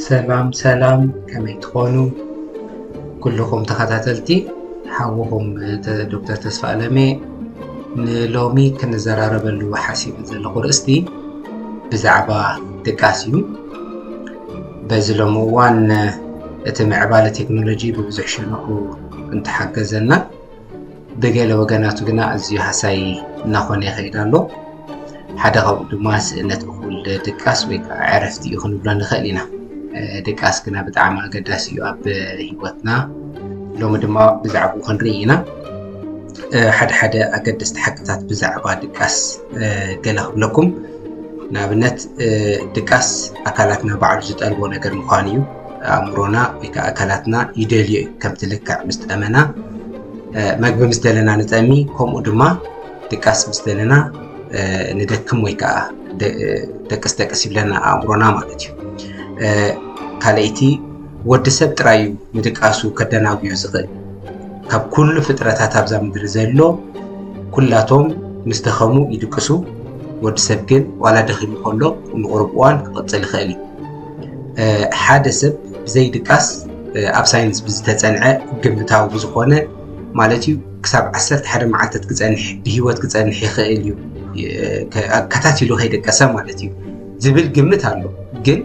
ሰላም ሰላም ከመይ ትኾኑ ኩልኹም ተኸታተልቲ ሓውኹም ዶክተር ተስፋ ኣለሜ ንሎሚ ክንዘራረበሉ ሓሲቡ ዘለኹ ርእስቲ ብዛዕባ ድቃስ እዩ በዚ ሎሚ እዋን እቲ ምዕባለ ቴክኖሎጂ ብብዙሕ ሸነኹ እንተሓገዘና ብገለ ወገናቱ ግና ኣዝዩ ሃሳይ እናኾነ ይኸይድ ኣሎ ሓደ ካብኡ ድማ ስእነት እኹል ድቃስ ወይ ከዓ ዕረፍቲ እዩ ክንብሎ ንኽእል ኢና ድቃስ ግና ብጣዕሚ ኣገዳሲ እዩ ኣብ ሂወትና ሎሚ ድማ ብዛዕባ ክንርኢ ኢና ሓደ ሓደ ኣገደስቲ ሓቅታት ብዛዕባ ድቃስ ገለ ክብለኩም ንኣብነት ድቃስ ኣካላትና ባዕሉ ዝጠልቦ ነገር ምዃኑ እዩ ኣእምሮና ወይ ከዓ ኣካላትና ይደልዮ እዩ ከምቲ ልክዕ ምስ ጠመና መግቢ ምስ ደለና ንጠሚ ከምኡ ድማ ድቃስ ምስ ደለና ንደክም ወይ ከዓ ደቅስ ደቅስ ይብለና ኣእምሮና ማለት እዩ ካልኣይቲ ወዲ ሰብ ጥራይ እዩ ንድቃሱ ከደናጉዮ ዝኽእል ካብ ኩሉ ፍጥረታት ኣብዛ ምድሪ ዘሎ ኩላቶም ምስ ደኸሙ ይድቅሱ ወዲ ሰብ ግን ዋላ ደኺሙ ከሎ ንቑርብ እዋን ክቕፅል ይኽእል እዩ ሓደ ሰብ ብዘይ ድቃስ ኣብ ሳይንስ ብዝተፀንዐ ግምታዊ ብዝኾነ ማለት እዩ ክሳብ 11 መዓልታት ክፀንሕ ብሂወት ክፀንሕ ይኽእል እዩ ከታቲሉ ከይደቀሰ ማለት እዩ ዝብል ግምት ኣሎ ግን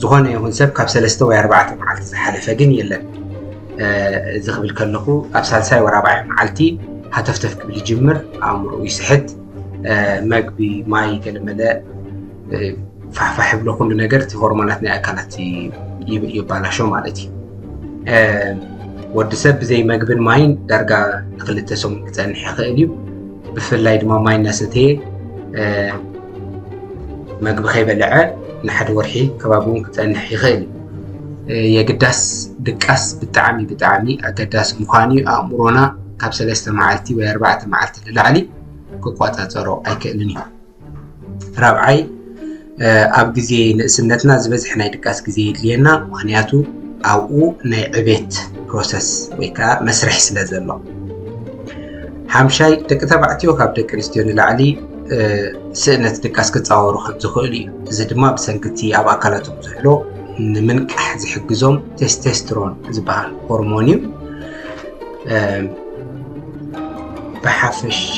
ዝኾነ ይኹን ሰብ ካብ ሰለስተ ወይ ኣርባዕተ መዓልቲ ዝሓለፈ ግን የለን እዚ ክብል ከለኹ ኣብ ሳልሳይ ወራባዒ መዓልቲ ሃተፍተፍ ክብል ይጅምር ኣእምሮ ይስሕት መግቢ ማይ ገለመለ ፋሕፋሕ ይብሎ ኩሉ ነገር እቲ ሆርሞናት ናይ ኣካላት ይባላሾ ማለት እዩ ወዲ ሰብ ብዘይ መግብን ማይን ዳርጋ ንክልተ ሰሙን ክፀንሕ ይኽእል እዩ ብፍላይ ድማ ማይ እናሰተየ መግቢ ከይበልዐ ንሓደ ወርሒ ከባቢ እውን ክፀንሕ ይኽእል እዩ የግዳስ ድቃስ ብጣዕሚ ብጣዕሚ ኣገዳሲ ምዃኑ እዩ ኣእምሮና ካብ ሰለስተ መዓልቲ ወይ ኣርባዕተ መዓልቲ ንላዕሊ ክቆፃፀሮ ኣይክእልን እዩ ራብዓይ ኣብ ግዜ ንእስነትና ዝበዝሐ ናይ ድቃስ ግዜ የድልየና ምክንያቱ ኣብኡ ናይ ዕቤት ፕሮሰስ ወይ ከዓ መስርሕ ስለ ዘሎ ሓምሻይ ደቂ ተባዕትዮ ካብ ደቂ ኣንስትዮ ንላዕሊ ስእነት ድቃስ ክፃወሩ ከም ዝኽእሉ እዩ እዚ ድማ ብሰንክቲ ኣብ ኣካላቶም ዘሎ ንምንቃሕ ዝሕግዞም ቴስቴስትሮን ዝበሃል ሆርሞን እዩ ብሓፈሻ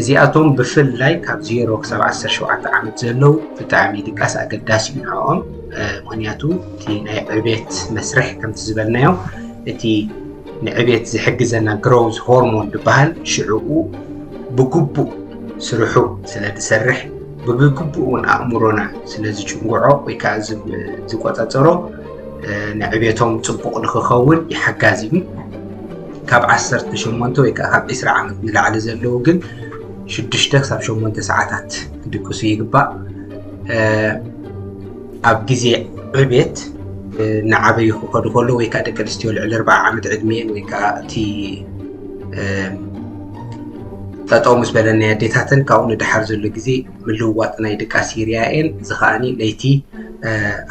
እዚኣቶም ብፍላይ ካብ ዜሮ ክሳብ ዓሰርተ ሸውዓተ ዓመት ዘለዉ ብጣዕሚ ድቃስ ኣገዳሲ እዩ ንዕኦም ምክንያቱ እቲ ናይ ዕቤት መስርሕ ከምቲ ዝበልናዮ እቲ ንዕቤት ዝሕግዘና ግሮዝ ሆርሞን ዝበሃል ሽዕኡ ብግቡእ ስርሑ ስለ ዝሰርሕ ብግቡእ እውን ኣእምሮና ስለ ዝጭንግዖ ወይ ከዓ ዝቆፃፀሮ ንዕቤቶም ፅቡቕ ንክኸውን ይሓጋዝ እዩ ካብ ዓሰርተ ሸሞንተ ወይ ከዓ ካብ ዕስራ ዓመት ንላዕሊ ዘለዉ ግን ሽዱሽተ ክሳብ ሸሞንተ ሰዓታት ክድቅሱ ይግባእ። ኣብ ግዜ ዕቤት ንዓበዩ ክኸዱ ከሎ ወይ ከዓ ደቂ ኣንስትዮ ልዕሊ ኣርባዓ ዓመት ዕድሜን ወይ ከዓ እቲ ጠጠው ምስ በለ ናይ ኣዴታተን ካብኡ ንድሓር ዘሎ ግዜ ምልውዋጥ ናይ ድቃስ ይርያየን እዚ ከዓኒ ለይቲ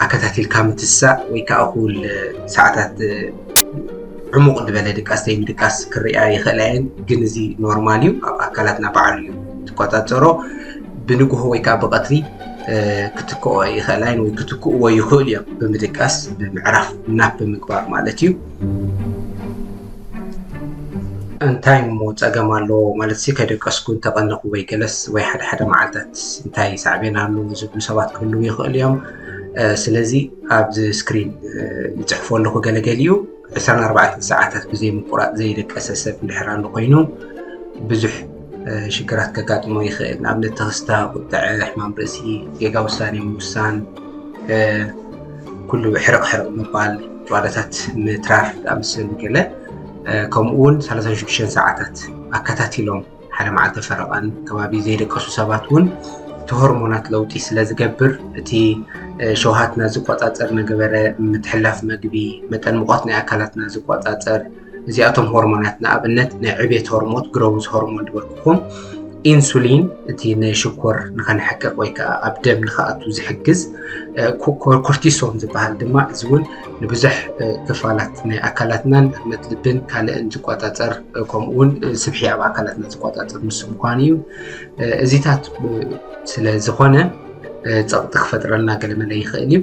ኣከታቲልካ ምትሳእ ወይ ከዓ እኹል ሰዓታት ዕሙቕ ዝበለ ድቃስ ዘይምድቃስ ክርኣ ይኽእላ እየን ግን እዚ ኖርማል እዩ ኣብ ኣካላትና በዓሉ እዩ ትቆፃፀሮ ብንግሆ ወይ ከዓ ብቐትሪ ክትክኦ ይኽእላ እየን ወይ ክትክእዎ ይኽእሉ እዮም ብምድቃስ ብምዕራፍ ናፕ ብምግባር ማለት እዩ እንታይ እሞ ፀገም ኣለዎ ማለት ሲ ከደቀስኩ እንተቐነኹ ወይ ገለስ ወይ ሓደ ሓደ መዓልታት እንታይ ሳዕቤን ኣለዎ ዝብሉ ሰባት ክህልው ይኽእሉ እዮም ስለዚ ኣብዚ ስክሪን ይፅሕፎ ኣለኹ ገለገሊኡ 24 ሰዓታት ብዘይ ምቁራፅ ዘይደቀሰ ሰብ እንድሕር ኣሎ ኮይኑ ብዙሕ ሽግራት ከጋጥሞ ይኽእል ንኣብነት ተኽስታ ቁጥዐ ሕማም ርእሲ ጌጋ ውሳኔ ምውሳን ኩሉ ሕርቕ ሕርቕ ምባል ጨዋዳታት ምትራፍ ኣምስል ገለ ከምኡ እውን 36 ሰዓታት ኣከታቲሎም ሓደ መዓልተ ፈረቓን ከባቢ ዘይደቀሱ ሰባት እውን እቲ ሆርሞናት ለውጢ ስለ ዝገብር እቲ ሸውሃትና ዝቆፃፀር ነገበረ ምትሕላፍ መግቢ መጠን ሙቐት ናይ ኣካላትና ዝቆፃፀር እዚኣቶም ሆርሞናት ንኣብነት ናይ ዕቤት ሆርሞት ግሮውዝ ሆርሞን ዝበልኩኹም ኢንሱሊን እቲ ንሽኮር ንኸነሕቅቕ ወይ ከዓ ኣብ ደም ንኸኣቱ ዝሕግዝ ኮርቲሶን ዝበሃል ድማ እዚ እውን ንብዙሕ ክፋላት ናይ ኣካላትናን ህርመት ልብን ካልእን ዝቆፃፀር ከምኡ እውን ስብሒ ኣብ ኣካላትና ዝቆፃፀር ምስ ምኳኑ እዩ እዚታት ስለ ዝኾነ ፀቕጢ ክፈጥረልና ገለመለ ይኽእል እዩ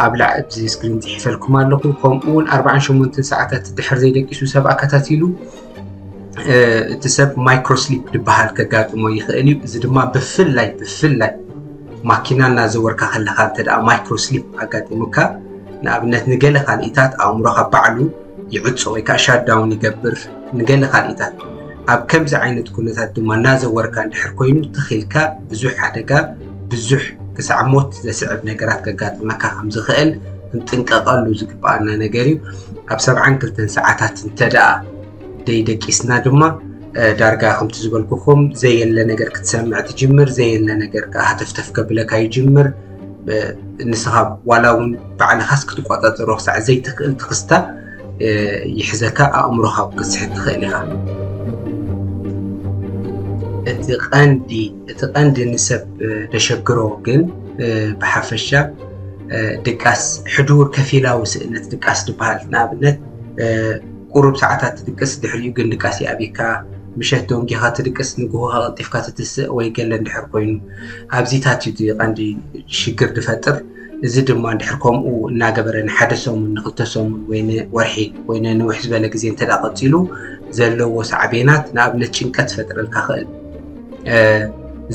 ኣብ ላዕዚ ስክሪን ፅሒፈልኩም ኣለኹ ከምኡ እውን ኣርባዓን ሸሞንትን ሰዓታት ድሕር ዘይደቂሱ ሰብ ኣከታቲሉ እቲ ሰብ ማይክሮስሊፕ ዝበሃል ከጋጥሞ ይኽእል እዩ እዚ ድማ ብፍላይ ብፍላይ ማኪና እናዘወርካ ከለካ እንተ ማይክሮስሊፕ ኣጋጢሙካ ንኣብነት ንገለ ካልኢታት ኣእምሮካ ባዕሉ ይዕፆ ወይ ከዓ ሻዳውን ይገብር ንገለ ካልኢታት ኣብ ከምዚ ዓይነት ኩነታት ድማ እናዘወርካ እንድሕር ኮይኑ ትኺልካ ብዙሕ ሓደጋ ብዙሕ ክሳዕ ሞት ዘስዕብ ነገራት ከጋጥመካ ከም ዝኽእል ክንጥንቀቐሉ ዝግብኣና ነገር እዩ ኣብ ሰብዓን ክልተን ሰዓታት እንተደኣ ደይደቂስና ድማ ዳርጋ ከምቲ ዝበልኩኹም ዘየለ ነገር ክትሰምዕ ትጅምር ዘየለ ነገር ከዓ ሃተፍተፍ ከብለካ ይጅምር ንስኻ ዋላ እውን ባዕልኻስ ክትቆፃፀሮ ክሳዕ ዘይትኽእል ትኽስታ ይሕዘካ ኣእምሮኻ ክትስሕት ትኽእል ኢኻ እቲ ቀንዲ እቲ ቀንዲ ንሰብ ደሸግሮ ግን ብሓፈሻ ድቃስ ሕዱር ከፊላዊ ስእነት ድቃስ ድበሃል ንኣብነት ቁሩብ ሰዓታት ትድቅስ ድሕሪኡ ግን ድቃስ ይኣብካ ምሸት ደንጊኻ ትድቅስ ንግሆ ቀልጢፍካ ትትስእ ወይ ገለ እንድሕር ኮይኑ ኣብዚታት እዩ ቀንዲ ሽግር ዝፈጥር እዚ ድማ እንድሕር ከምኡ እናገበረ ንሓደ ሰሙን ንክልተ ሰሙን ወይ ወርሒ ወይ ንውሕ ዝበለ ግዜ እንተ ቀፂሉ ዘለዎ ሳዕቤናት ንኣብነት ጭንቀት ዝፈጥረልካ ክእል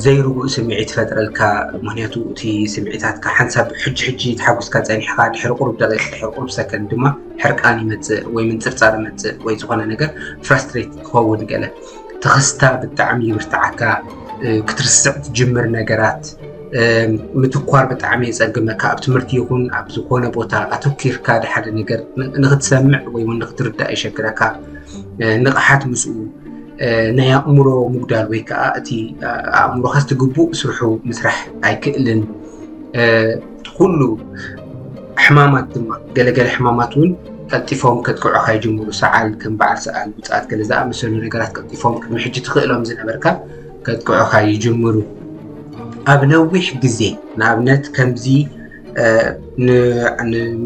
ዘይርጉእ ስምዒት ይፈጥረልካ ምክንያቱ እቲ ስምዒታትካ ሓንሳብ ሕጂ ሕጂ ተሓጒስካ ጸኒሕካ ድሕሪ ቁሩብ ደቂቕ ድሕሪ ቁሩብ ሰከንድ ድማ ሕርቃን ይመጽእ ወይ ምንጽርጻር ይመጽእ ወይ ዝኾነ ነገር ፍራስትሬት ክኸውን ገለ ተኸስታ ብጣዕሚ ይብርትዓካ ክትርስዕ ትጅምር ነገራት ምትኳር ብጣዕሚ የጸግመካ ኣብ ትምህርቲ ይኹን ኣብ ዝኾነ ቦታ ኣተኪርካ ድሓደ ነገር ንክትሰምዕ ወይ እውን ንክትርዳእ ይሸግረካ ንቕሓት ምስኡ ናይ ኣእምሮ ምጉዳል ወይ ከዓ እቲ ኣእምሮካ ዝትግቡእ ስርሑ ምስራሕ ኣይክእልን እቲ ኩሉ ሕማማት ድማ ገለገለ ሕማማት እውን ቀልጢፎም ከጥቅዑካ ይጅምሩ ሰዓል ከም በዓል ሰዓል ውፅኣት ገለ ዝኣመሰሉ ነገራት ቀልጢፎም ቅድሚ ሕጂ ትኽእሎም ዝነበርካ ከጥቅዑካ ይጅምሩ ኣብ ነዊሕ ግዜ ንኣብነት ከምዚ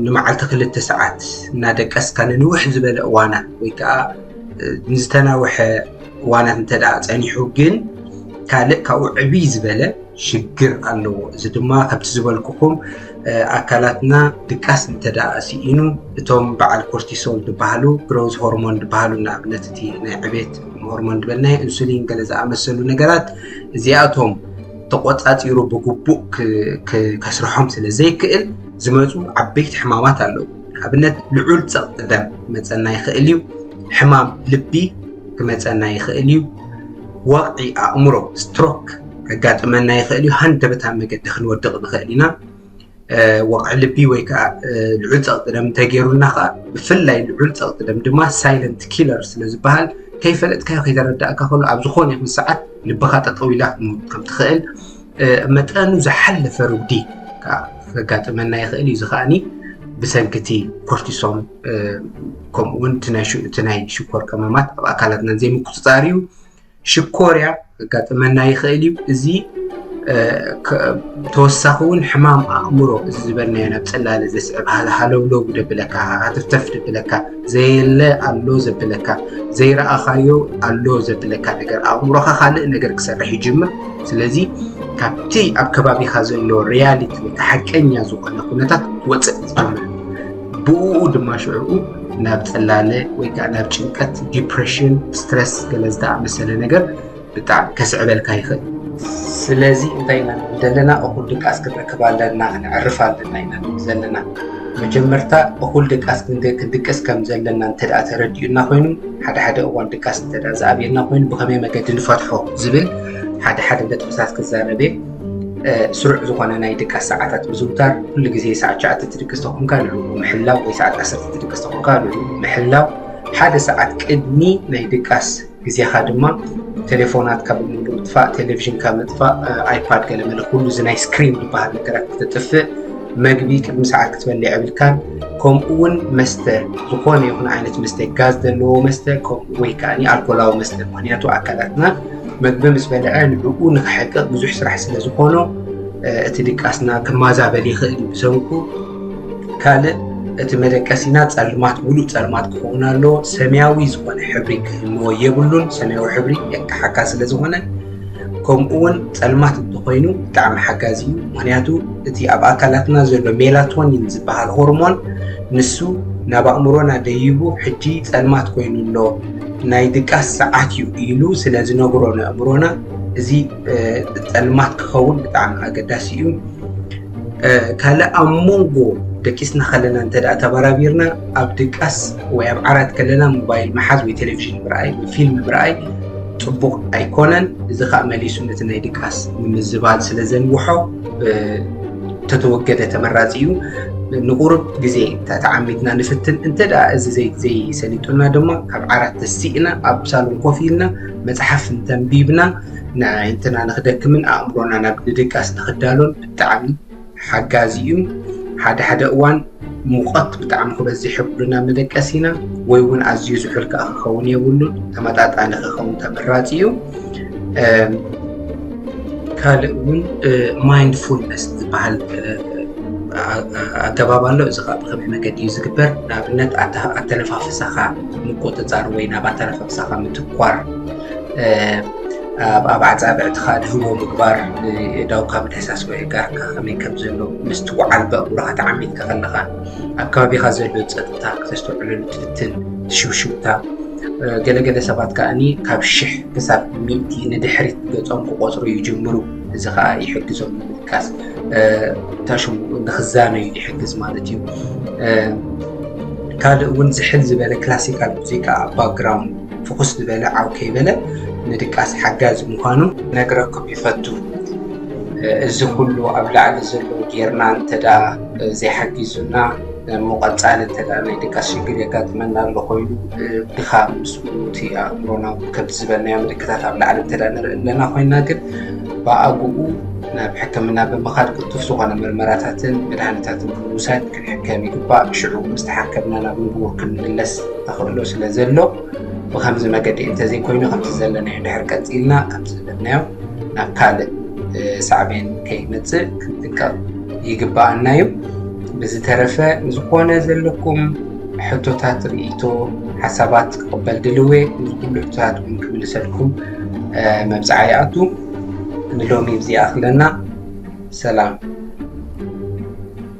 ንመዓልቲ ክልተ ሰዓት እናደቀስካ ንንውሕ ዝበለ እዋናት ወይ ከዓ ንዝተናውሐ እዋናት እንተ ፀኒሑ ግን ካልእ ካብኡ ዕብይ ዝበለ ሽግር ኣለዎ። እዚ ድማ ከምቲ ዝበልኩኹም ኣካላትና ድቃስ እንተ ስኢኑ እቶም በዓል ኮርቲሶል ዝበሃሉ ግሮዝ ሆርሞን ዝበሃሉ ንኣብነት እቲ ናይ ዕቤት ሆርሞን ዝበልና ኢንሱሊን ገለ ዝኣመሰሉ ነገራት እዚኣቶም ተቆፃፂሩ ብግቡእ ከስርሖም ስለ ዘይክእል ዝመፁ ዓበይቲ ሕማማት ኣለዉ ንኣብነት ልዑል ፀቕጢ ደም ክመፀና ይኽእል እዩ ሕማም ልቢ ክመፀና ይኽእል እዩ ወቕዒ ኣእምሮ ስትሮክ ከጋጥመና ይኽእል እዩ ሃንደበታዊ መገዲ ክንወድቕ ንኽእል ኢና ወቕዒ ልቢ ወይ ከዓ ልዑል ፀቕጢ ደም እንተገይሩና ከዓ ብፍላይ ልዑል ፀቕጢ ደም ድማ ሳይለንት ኪለር ስለ ዝበሃል ከይፈለጥካዮ ከይተረዳእካ ከሎ ኣብ ዝኾነ ይኹን ሰዓት ልብኻ ጠጠው ኢላ ክትመውት ከም ትኽእል መጠኑ ዝሓለፈ ርጉዲ ከዓ ከጋጥመና ይኽእል እዩ እዚ ከዓኒ ብሰንኪ እቲ ኮርቲሶን ከምኡውን እቲ ናይ ሽኮር ቀመማት ኣብ ኣካላትና ዘይምቁፅፃር እዩ ሽኮርያ ከጋጥመና ይኽእል እዩ እዚ ተወሳኺ እውን ሕማም ኣእምሮ እዚ ዝበልናዮ ናብ ፅላለ ዘስዕብ ሃለውለው ደብለካ ሃተፍተፍ ደብለካ ዘየለ ኣሎ ዘብለካ ዘይረኣኻዮ ኣሎ ዘብለካ ነገር ኣእምሮኻ ካልእ ነገር ክሰርሕ ይጅምር ስለዚ ካብቲ ኣብ ከባቢኻ ዘሎ ሪያሊቲ ወይ ሓቀኛ ዝኾነ ኩነታት ወፅእ ዝብል ብኡኡ ድማ ሽዕኡ ናብ ጽላለ ወይ ከዓ ናብ ጭንቀት ዲፕሬሽን ስትረስ ገለ ዝተኣመሰለ ነገር ብጣዕሚ ከስዕበልካ ይኽእል ስለዚ እንታይ ኢና ንብል ዘለና እኹል ድቃስ ክንረክብ ኣለና ክንዕርፍ ኣለና ኢና ንብል ዘለና መጀመርታ እኹል ድቃስ ክንድቅስ ከም ዘለና እንተ ተረዲኡና ኮይኑ ሓደ ሓደ እዋን ድቃስ እንተ ዝኣብየና ኮይኑ ብኸመይ መገዲ ንፈትሖ ዝብል ሓደ ሓደ ነጥብታት ክዛረብ እየ ስሩዕ ዝኾነ ናይ ድቃስ ሰዓታት ምዝውታር ኩሉ ግዜ ሰዓት ሸዓተ ትድቅስ ተኾንካ ልዑ ምሕላው ወይ ሰዓት ዓሰርተ ትድቅስ ተኾንካ ልዑ ምሕላው ሓደ ሰዓት ቅድሚ ናይ ድቃስ ግዜኻ ድማ ቴሌፎናት ካብ ሙሉ ምጥፋእ ቴሌቭዥን ካብ ምጥፋእ ኣይፓድ ገለ መለ ኩሉ እዚ ናይ ስክሪን ዝበሃል ነገራት ክተጥፍእ መግቢ ቅድሚ ሰዓት ክትበልዕ የብልካን ከምኡ እውን መስተ ዝኾነ ይኹን ዓይነት መስተ ጋዝ ዘለዎ መስተ ወይ ከዓ ኣልኮላዊ መስተ ምክንያቱ ኣካላትና መግቢ ምስ በልዐ ንብኡ ንክሕቅቕ ብዙሕ ስራሕ ስለ ዝኾኖ እቲ ድቃስና ክማዛበል ይኽእል እዩ ብሰንኩ ካልእ እቲ መደቀሲና ጸልማት ሙሉእ ጸልማት ክኸውን ኣለዎ ሰማያዊ ዝኾነ ሕብሪ ክህልዎ የብሉን ሰማያዊ ሕብሪ የቅሓካ ስለ ዝኾነ ከምኡ እውን ጸልማት እንተኮይኑ ብጣዕሚ ሓጋዚ እዩ ምክንያቱ እቲ ኣብ ኣካላትና ዘሎ ሜላቶኒን ዝበሃል ሆርሞን ንሱ ናብ ኣእምሮና ደይቡ ሕጂ ጸልማት ኮይኑ ኣሎ ናይ ድቃስ ሰዓት እዩ ኢሉ ስለ ዝነግሮ ንኣእምሮና እዚ ጸልማት ክኸውን ብጣዕሚ ኣገዳሲ እዩ ካልእ ኣብ መንጎ ደቂስና ከለና እንተ ተበራቢርና ኣብ ድቃስ ወይ ኣብ ዓራት ከለና ሞባይል መሓዝ ወይ ቴሌቭዥን ምርኣይ ወይ ፊልም ምርኣይ ጽቡቕ ኣይኮነን እዚ ከዓ መሊሱ ነቲ ናይ ድቃስ ምምዝባል ስለ ዘንውሖ ተተወገደ ተመራፂ እዩ። ንቁሩብ ግዜ ተዓሚትና ንፍትን እንተ እዚ ዘይሰሊጡና ድማ ካብ ዓራት ተሲእና ኣብ ሳሎን ኮፍ ኢልና መፅሓፍ እንተንቢብና ንኣይንትና ንክደክምን ኣእምሮና ናብ ንድቃስ ንክዳሎን ብጣዕሚ ሓጋዚ እዩ ሓደ ሓደ እዋን ሙቐት ብጣዕሚ ክበዝሕ የብሉን ኣብ መደቀሲና ወይ እውን ኣዝዩ ዝሑል ከዓ ክኸውን የብሉን ተመጣጣኒ ክኸውን ተመራፂ እዩ ካልእ እውን ማይንድፉልነስ ዝበሃል ኣገባብ ኣሎ እዚ ከዓ ብከመይ መገዲ እዩ ዝግበር ንኣብነት ኣተነፋፍሳኻ ምቁፅፃር ወይ ናብ ኣተነፋፍሳኻ ምትኳር ኣብ ኣብ ኣጻብዕትኻ ድህቦ ምግባር ንእዳውካ ምድህሳስ ወይ እጋርካ ከመይ ከም ዘሎ ምስትውዓል ብኣእምሮኻ ተዓሚትካ ከለኻ ኣብ ከባቢኻ ዘሎ ጸጥታ ክተስተውዕለሉ ትፍትን ትሽውሽውታ ገለገለ ሰባት ከዓኒ ካብ ሽሕ ክሳብ ሚእቲ ንድሕሪት ገጾም ክቆጽሩ ይጅምሩ እዚ ከዓ ይሕግዞም ንምድቃስ ታሽሙ ንክዛነዩ ይሕግዝ ማለት እዩ ካልእ እውን ዝሕል ዝበለ ክላሲካል ሙዚቃ ኣብ ባክግራውንድ ፍኹስ ዝበለ ዓው ከይበለ ንድቃስ ሓጋዚ ምዃኑ ክነግረኩም ይፈቱ። እዚ ኩሉ ኣብ ላዕሊ ዘሎ ጌርና እንተደኣ ዘይሓጊዙና እሞ ቀጻሊ እንተደኣ ናይ ድቃስ ሽግር የጋጥመና ኣሎ ኮይኑ ድኻም ምስ እቲ ኣእምሮና ከምቲ ዝበልናዮ ምልክታት ኣብ ላዕሊ እንተደኣ ንርኢ ኣለና ኮይና ግን ብኣግኡ ናብ ሕክምና ብምኻድ ቅልጡፍ ዝኾነ ምርመራታትን መድሃኒታትን ብምውሳድ ክንሕከም ይግባእ። ሽዑ ምስ ተሓከምና ናብ ንቡር ክንምለስ ተኽእሎ ስለ ዘሎ ብከምዚ መገዲ እንተዘይኮይኑ ከምቲ ዘለናዮ ድሕር ቀፂልና ከምቲ ዝበልናዮ ናብ ካልእ ሳዕቤን ከይመፅእ ክንጥቀቕ ይግባኣና እዩ። ብዝተረፈ ዝኾነ ዘለኩም ሕቶታት ርእይቶ ሓሳባት ክቕበል ድልዌ ንዝኩሉ ሕቶታት እውን ክምልሰልኩም መብፅዓ ይኣቱ ንሎሚ ብዚ ኣኽለና ሰላም